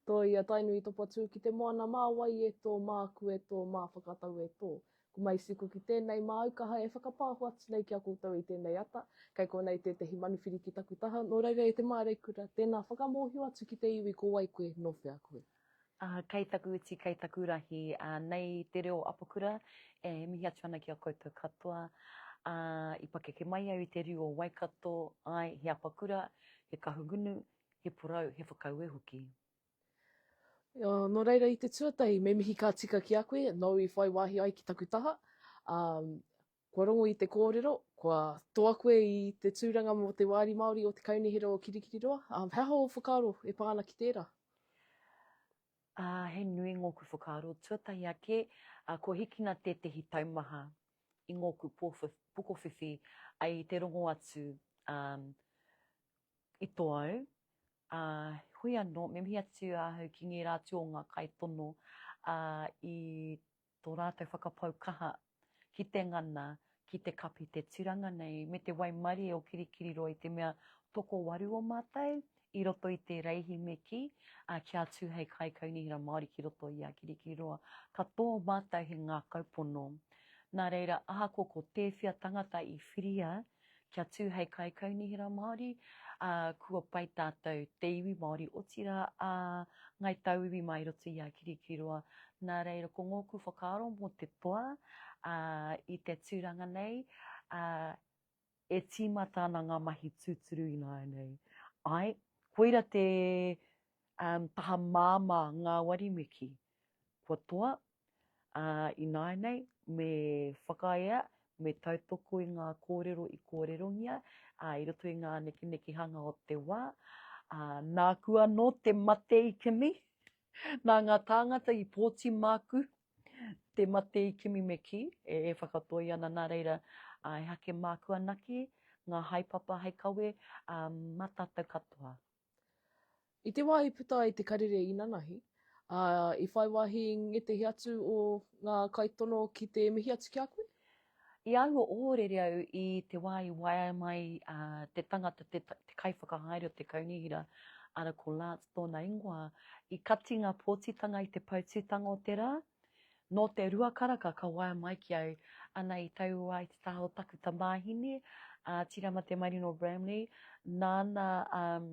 Toi a Tainui topa tū ki te moana mā wai e tō, mā aku e tō, mā whakatau e tō. Ko Maisiko ki tēnei māu kaha e whakapāho atu nei ki a koutou i tēnei ata, kei konei tētehi manuwhiri ki taku taha, nō reira e te māreikura, tēnā whakamōhio atu ki te iwi ko wai koe, nō whea koe. Kei taku uti, kei taku rahi, nei te reo apakura e mihi atu ana ki a koutou katoa. I pakeke mai au i te riu o Waikato, ae, he apakura, he kahungunu, he porou, he whakaue hoki. No reira i te tuatahi, me mihi ka tika ki a koe, nou i whai wahi ai ki taku taha, Kua rongo i te kōrero, kua toa koe i te tūranga mō te Wāri Māori o Te Kaunihera o Kirikiriroa. He aha ō whakaaro e pā ana ki tērā? Āe, he nui ngōku whakaaro. Tuatahi ake, kua hikina tētehi taumaha i ngōku pokowhiwhi i te rongo atu i tō au. Heoi anō, me mihi atu ahau ki ngērā atu o ngā kaitono i tō rātou whakapau kaha ki te ngana, ki te kapi te turanga nei me te waimarie o Kirikiriroa i te mea tokowaru o mātou i roto i te reihi me kī, ā, kia tū hei kaikaunihera Māori ki roto i a Kirikiriroa, ka tō mātou he ngākau pono. Nā reira, ahakoa ko tēwhea tangata i whiria kia tū hei kaikaunihera Māori, ā, kua pai tātou te iwi Māori, otirā ā Ngāi Tauiwi mā i roto i a Kirikiriroa. Nā reira, ko ngōku whakaaro mō te toa, ā, i te tūranga nei, ā, e tīmata ana ngā mahi tūturu ināianei. Āe, koira te, ā, taha māmā ngāwari me kī. Kua toa, Ā ināianei, me whakaea, me tautoko i ngā kōrero i kōrerongia, ā, i roto i ngā nekenekehanga o te wā, ā, nāku anō te mate i kimi, nā ngā tāngata i pōti māku te mate i kimi me kī, e whakatoi ana nā reira, ā, e hake māku anake ngā haepapa hei kawe, ā, mā tātou katoa. I te wā i puta ai te karere inanahi, ā, i whai wāhi i ngētehi atu o ngā kaitono ki te mihi atu ki a koe? I aua ōrere au i te wā i waea mai te tangata, te kaiwhakahaere o te kaunihera, arā, ko Lance tōna ingoa, i kati ngā pōtitanga i te pautūtanga o te rā, Nō te rua karaka ka waea mai ki au, ana i taua ai te taha o taku tamāhine, a Tirama Te Marino Bramley, nāna um,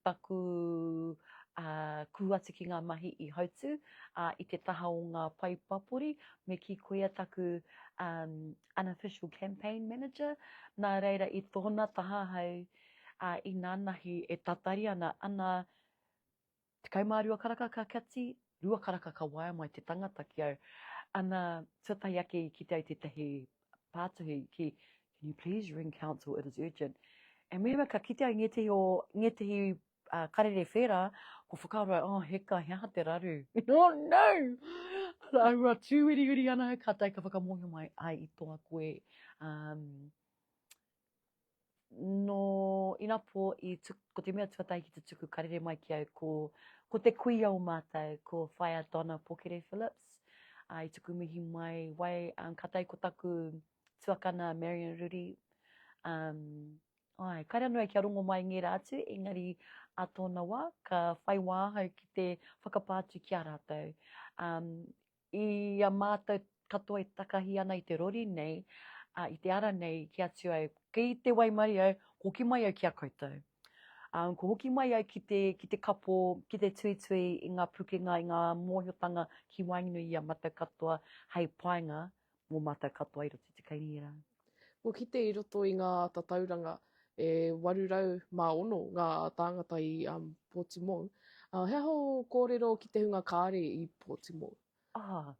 taku uh, kū atu ki ngā mahi i hautu uh, i te taha o ngā pai papori, me ki koia taku um, unofficial campaign manager, nā reira i tōna taha hau, uh, i nānahi e tatari ana, ana Tekau mā rua karaka ka kati, rua karaka ka waea mai te tangata ki au. Ana, tuatahi ake i kite ai tētahi pātuhi ki, Can you please ring council, it is urgent. E mehemea ka kite ai ngētehi o, ngētehi uh, karere whērā, ko whakaaro ai, oh, heka, he aha te raru? oh, no! Ana, aua tūwiriwiri ana, ka tai ka whakamōhio mai, ai i toa koe, um, no inapo i tuk, ko te mea tuatahi ki te tuku karere mai ki au ko, ko te kuia o mātou, ko Whaia Donna Pokere Phillips. Uh, I tuku mihi mai, wai, um, ka tai ko taku tuakana Marion Ruri. Um, ai, kare anō e kia rongo mai ngē rātu, engari a tōna wā, ka whai wāhau ki te whakapātu ki a rātou. Um, I a mātou katoa e takahi ana i te rori nei, ā, i te ara nei ki a Tūai, kei te waimarie au, hoki mai au ki a koutou. Ā, ko hoki mai au ki te, ki te kapo, ki te tuitui i ngā pukenga, i ngā mōhiotanga ki waenganui i a mātou katoa hei painga Mō mātou katoa i roto i te kaingira. Kua kite i roto i ngā tatauranga e 806 ngā tāngata i um, Pōtimou. Uh, he aha o kōrero ki te hunga kāre i Pōtimou? Ah,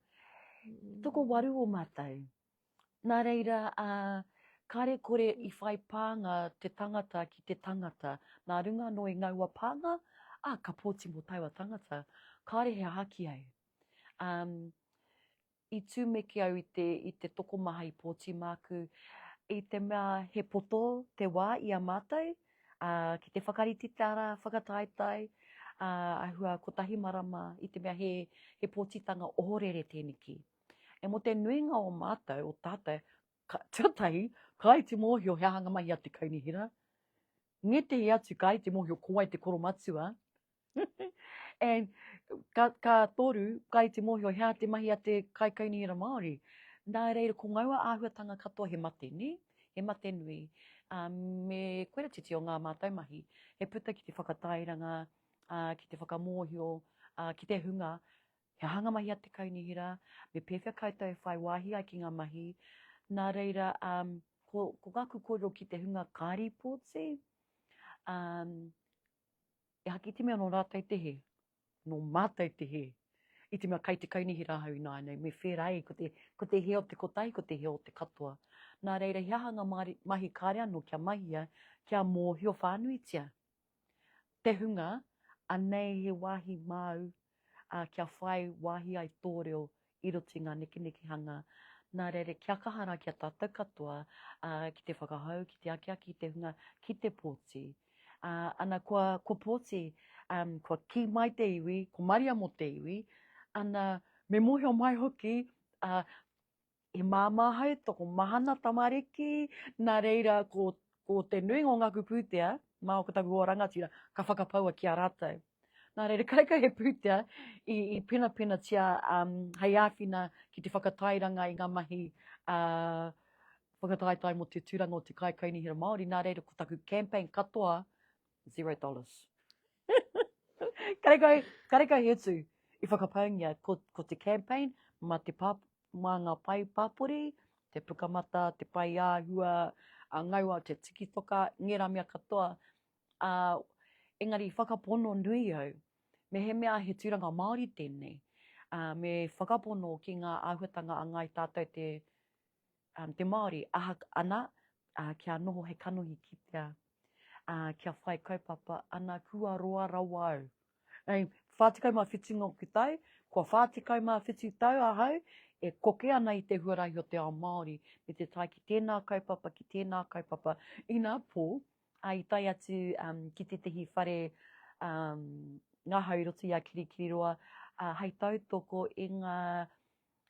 mm. toko waru o mātou. Nā reira, uh, kāre kore i whai pānga te tangata ki te tangata. Nā runga anō i ngaua pānga, ah, ka Pōtimou taua tangata. Kāre he haki ai. Um, i tūmeki au i te, i te tokomaha i pōti māku, i te mea he poto te wā i a mātou, ā, ki te whakarite te ara whakataetae, ā, ahua kotahi marama, i te mea he, he pōtitanga ohorere tēneki. E mō te nuinga o mātou, o tātou, ka, tuatahi, ka ai te mōhio he aha ngā mahi a te kaunihera, ngētehi atu ka ai te mōhio ko wai te koromatua, and ka, ka toru, kai te mōhio, hea te mahi a te kaikaunihera Māori. Nā reira, ko ngaua āhuatanga katoa he mate, ne? He mate nui. Uh, me koera titi o ngā mātou mahi, he puta ki te whakatairanga, uh, ki te whakamōhio, uh, ki te hunga, he hanga mahi a te kaunihera, me pēwhea koutou e whai wāhi ai ki ngā mahi. Nā reira, um, ko, ko ngā kukorero ki te hunga kāri pōti, um, E haki te mea nō rātou te hē, nō mātou te hē. I te mea kai te kaunihi rāhau ināianei, me whērā ai, ko te, ko te hē o te kotahi, ko te hē o te katoa. Nā reira, he aha ngā mahi kāre anō kia mahia, kia mōhio whānuitia? Te hunga, anei he wāhi māu ā, kia whai wāhi ai tō reo i roto i ngā nekenekehanga, nā reira kia kaha rā ki a tātou katoa, ā, ki te whakahou, ki te akiaki i te hunga ki te pōti. Ā, ana, kua, kua pōti, ā, kua kī mai te iwi, ko Maria mō te iwi, ana, me mōhio mai hoki, ā, He māmā hai tokomahana tamariki, nā reira ko, ko te nuinga o ngāku pūtea, mā o taku o rangatira, ka whakapaua ki a rātou. Nā reira, kai kai he pūtea i, i penapenatia um, hei āwhina ki te whakatairanga i ngā mahi uh, whakataetae mo te tūranga o te kaikai nihira Māori. Nā reira, ko taku campaign katoa, Zero dollars. karekau, karekau he utu i whakapaungia ko, ko te campaign ma te pā, mā ngā pae pāpori, te pukamata, te pae āhua, a ngaua te tikitoka, ngera mea katoa. A, engari whakapono nui au, me he mea he tūranga Māori tēnei, a, me whakapono ki ngā āhuatanga a ngāi tātou te te Māori aha ana kia noho he kanohi kitea, kia whai kaupapa ana kua roa rawa au. Hei, whātikau mā whitu ngō kutai, kua whātikau mā whitu tau ahau, e koke ana i te huarahi o te ao Māori, me te tai ki tēnā kaupapa, ki tēnā kaupapa, ina pō, a, i tai atu um, ki tētahi whare um, ngahau i roto i a Kirikiriroa, uh, hei tautoko i ngā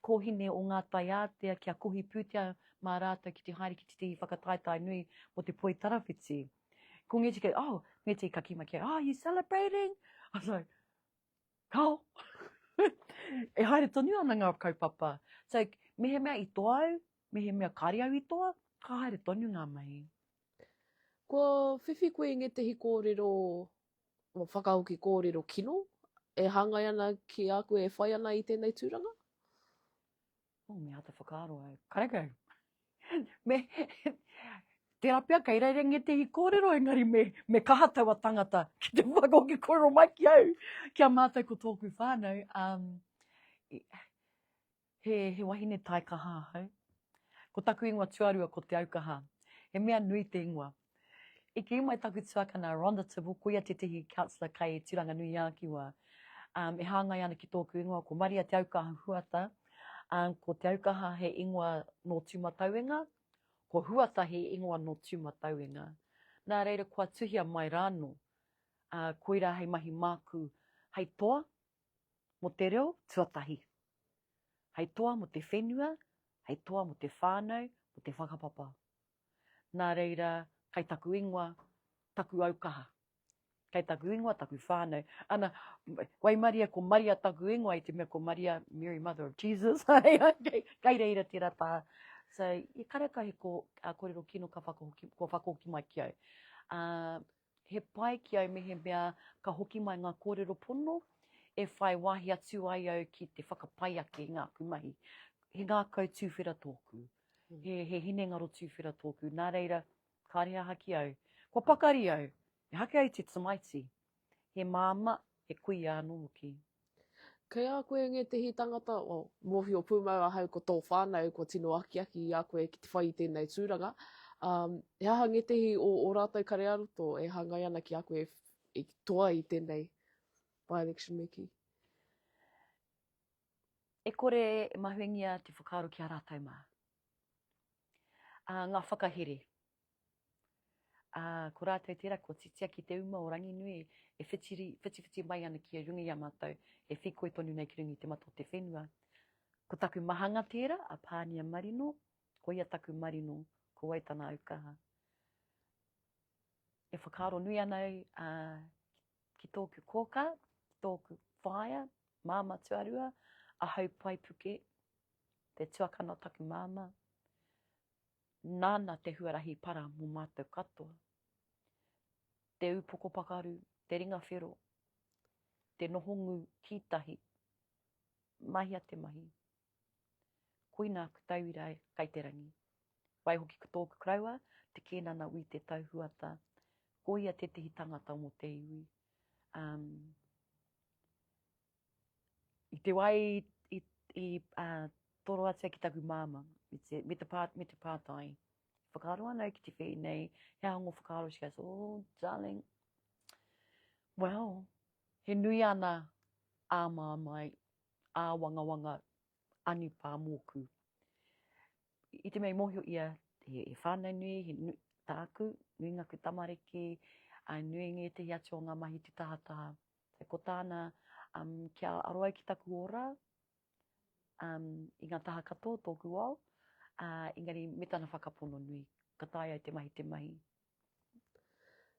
kōhine o ngā taiātea kia kohi pūtea mā rātou ki te haere ki tētehi whakataetae nui mō te poi tarawhiti. Ko Ngeti kei, oh, Ngeti ka kima kei, oh, you celebrating? I was like, kao! e haere tonu ana ngā kaupapa. So, mehemea i toa au, mehemea kāre au i toa, ka haere tonu ngā mahi. Kua whiwhi koe i ngētehi kōrero whakahoki kōrero kino e hāngai ana ki a koe e whai ana i tēnei tūranga? Oh, me āta whakaaro ai. Kareka. me, tērā pia, kei reira nge te hi kōrero, engari me, me kaha taua tangata ki te whakahoki kōrero mai ki au, ki a mātou ko tōku whānau. Um, He, he wahine taikaha ahau. Ko taku ingoa tuarua ko Te Aukaha. He mea nui te ingoa. I kī mai taku tuakana Rhonda Tibble, ko ia tētehi councillor kei Tūranganui-ā-Kiwa, um, e hāngai ana ki tōku ingoa, ko Maria Te Aukaha Huata. Um, ko Te Aukaha he ingoa nō Tūmatauenga, ko Huata he ingoa nō Tūmatauenga. Nā reira kua tuhia mai rāno, uh, koirā hei mahi māku hei toa mō te reo tuatahi. Hei toa mō te whenua, hei toa mō te whānau, mō te whakapapa. Nā reira, kei taku ingoa, taku aukaha. Kei taku ingoa, taku whānau. Ana, waimaria ko Maria taku ingoa, i te mea ko Maria, Mary Mother of Jesus. kei reira tērā tā. So, i kareka he ko, uh, korero kino ka whakahoki, kua whakahoki mai ki au. Uh, He pai ki au mehemea ka hoki mai ngā kōrero pono e whai wāhi atu ai au ki te whakapai ake i ngāku mahi. He ngākau tūwhera tōku, he, he hinengaro tūwhera tōku, nā reira, kāre aha ki au. Kua pakari au, me hake ai te tamaiti, he māmā, he kuia anō hoki. Kei a koe ngētehi tangata, o, mōhio pūmau ahau ko tō whānau kua tino akiaki i a koe ki te whai i tēnei tūranga, ā, he aha ngētehi o ō rātou kare-ā-roto e hāngai ana ki a koe i toa i tēnei by-election me kī? E kore e mahuengia te whakaaro ki a rātou mā. Ā, ngā whakahere. Ā, ko rātou tērā kua titia ki te uma o Ranginui e whitiri, whitiwhiti mai ana ki runga i a mātou e whīkoi tonu nei ki runga i te mata o te whenua. Ko taku mahanga tērā, a Pānia Marino, ko ia taku marino, ko wai tana aukaha. E whakaaro nui ana au a, ki tōku kōkā, ki tōku whaea, māma tuarua, a Haupai Puke, te tuakana o taku māma. Nāna te huarahi para mō mātou katoa. Te upoko pakaru, te ringa whero, te noho ngū ki tahi. Mahia te mahi. Koina aku tauira e kai te rangi. Wai hoki ko tōku karaua, te kēnana wī te tau huata. Ko ia tētehi tangata mō te iwi. Um, i te wai i, i uh, toroatia ki taku māma, me te, me te, pā, me te pātai, whakaaro ana ki te whee nei, he ahongo whakaaro, she goes, oh, darling, well, he nui ana ā māmai, ā wangawanga, anipā mōku. I te mei mōhio ia, he, he whānau nui, he nu, tāku, nui ngaku tamariki, a nui ngētehi atu o ngā mahi te tahataha, He ko tāna, um, kia aro ai ki taku ora, um, i ngā taha katoa tōku ao, uh, engari me tana whakapono nui, ka tae ai te mahi te mahi.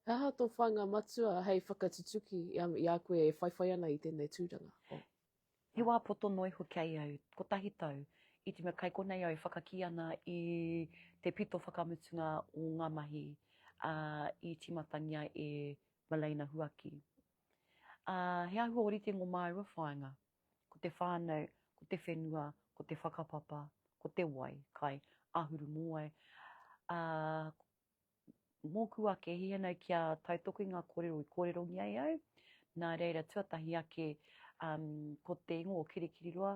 He aha tō whāinga matua hei whakatutuki i a, i a koe e whaiwhai ana i tēnei tūranga? Oh. He wā poto noa iho ki a ia au, kotahi tau, i te mea kai konei au e whakakī ana i te pito whakamutunga o ngā mahi ā, i tīmatangia e Maleina Huaki. Ā, he āhua ōrite ngō māua whāinga, ko te whānau, ko te whenua, ko te whakapapa, ko te wai, kai, āhuru mōwai, ā, mōku ake he hanau kia tautoku i ngā kōrero i kōrerongia e au. Nā reira, tuatahi ake, um, ko te ingoa o Kirikiriroa,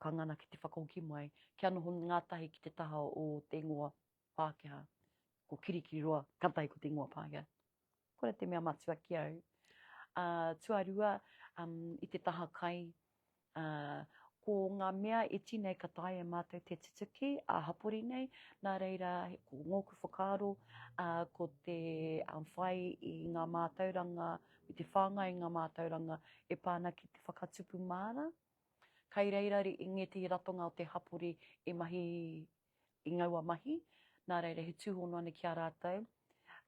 ka ngana ki te whakahoki mai, kia noho ngātahi ki te taha o te ingoa Pākehā. Ko Kirikiriroa, kātahi ko te ingoa Pākehā. Kore te mea matua ki au. Uh, tuarua, um, i te taha kai, uh, ko ngā mea e tinei ka tae e mātou te tutuki a hapori nei, nā reira ko ngōku whakaaro, uh, ko te um, whai i ngā mātauranga, i te whāngai i ngā mātauranga e pāna ki te whakatupu māra. Kai reira i ngētehi ratonga o te hapori e mahi i ngaua mahi, nā reira he tūhono ana ki a rātou,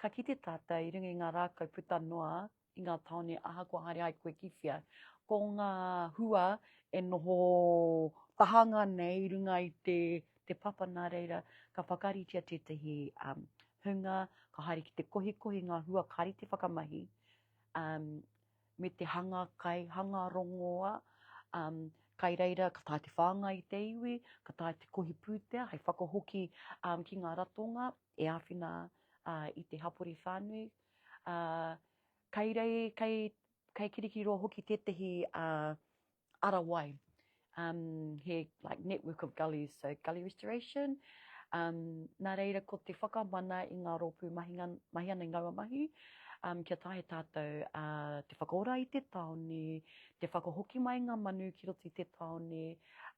ka kite tātou i runga i ngā rākau puta noa i ngā tāone ahakoa haere ai koe ki whea. Ko ngā hua e noho tahanga nei i runga i te, te papa nā reira, ka whakaritea tētahi um, hunga, ka haere ki te kohikohi ngā hua kari te whakamahi, um, me te hanga kai, hanga rongoa, um, kai reira ka tae te whāngai i te iwi, ka tae te kohi pūtea hei whakahoki um, ki ngā ratonga e āwhina uh, i te hapori whānui. Uh, kai rei, kai, kai kirikiriroa hoki tētahi uh, ara wai, um, he like network of gullies, so gully restoration. Um, nā reira, ko te whakamana i ngā rōpū mahi, mahi ana i ngaua mahi, um, kia tahe tātou uh, te whakaora i te taone, te whakahoki mai ngā manu ki roto i te taone,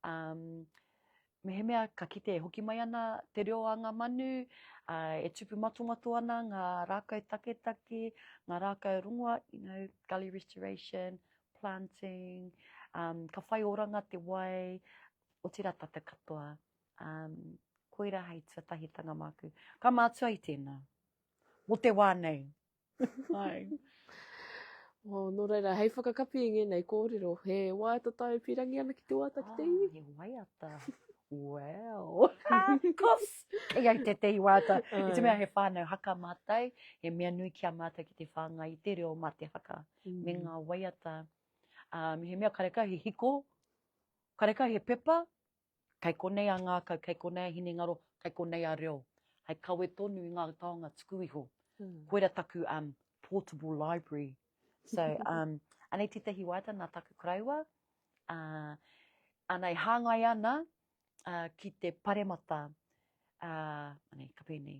um, Mehemea ka kite e hoki mai ana te reo a ngā manu, ā, e tupu matomato ana ngā rākau taketake, ngā rākau rongoa, you know, gully restoration, planting, um, ka whai oranga te wai, otirā tata katoa. Um, koira hei tuatahitanga māku. Ka mātua i tēnā. Mō te wā nei, Hai. Oh, nō reira, hei whakakapi i ngēnei kōrero, he waiata tae pīrangi ana ki te waiata ki te iwi. Ah, he waiata. Wow. Kos! Kei ai te te i waiata. I te mea he whānau haka mātai, he mea nui ki a mātai ki te whāngai i te reo mā te haka. Mm. Me ngā waiata. Um, he mea kareka he hiko, kareka he pepa, Kei konei a ngākau, kei konei a hinengaro, kei konei a reo. Hei kawe tonu i ngā taonga tuku iho. Koira taku um, portable library. So, um, anei tētahi waiata nā taku karaiwa, uh, ana e hāngai ana uh, ki te paremata, uh, anei, ka pēnei,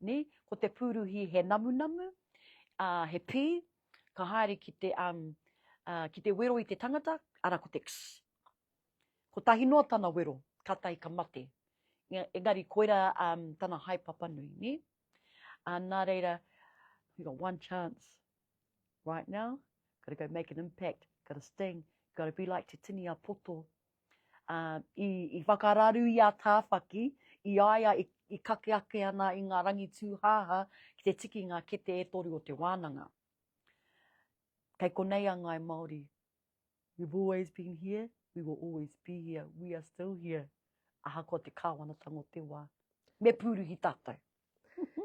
Ni, ko te pūruhi he namunamu, ā, he pī, ka haere ki te, um, ā, ki te wero i te tangata, arā ko te kss. Kotahi noa tana wero, kātahi ka mate. Nga- Engari koirā um, tana haepapa nui, ni? Ā, nā reira, you got one chance right now, gotta go make an impact, gotta sting, gotta be like Te Tini a Poto, ā, i, i whakararu i a Tāwhaki, i a ia i, i kake ake ana i ngā rangi tūhāhā ki te tiki i ngā kete e toru o te wānanga. Kei konei a Ngāi Māori. We've always been here, we will always be here, we are still here. Ahakoa te kāwanatanga o te wā. Me pūruhi tātou.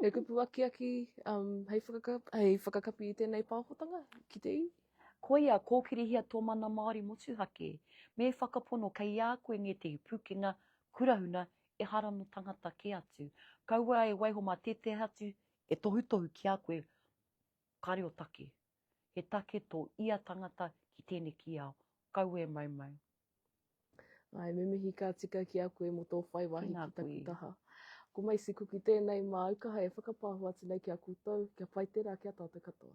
E kupu akiaki um, hei, whakakap, hei whakakapi i tēnei pāhotanga ki te iwi. Koia, kōkirihia tō mana Māori motuhake. Me whakapono kei a koe ngētehi pūkenga, kurahuna, ehara nō tangata kē atu. Kaua e waiho mā tētehi atu e tohutohu ki a koe, ka reo take. He take tō ia tangata ki tēneki ao. Kaua e maumau. Ai, me mihi ka tika ki a koe mo tō whai wahi ki taku taha. Ko Macy Kuki tēnei māu kaha e whakapāho atu nei ki a koutou, kia pai tērā ki a tātou katoa.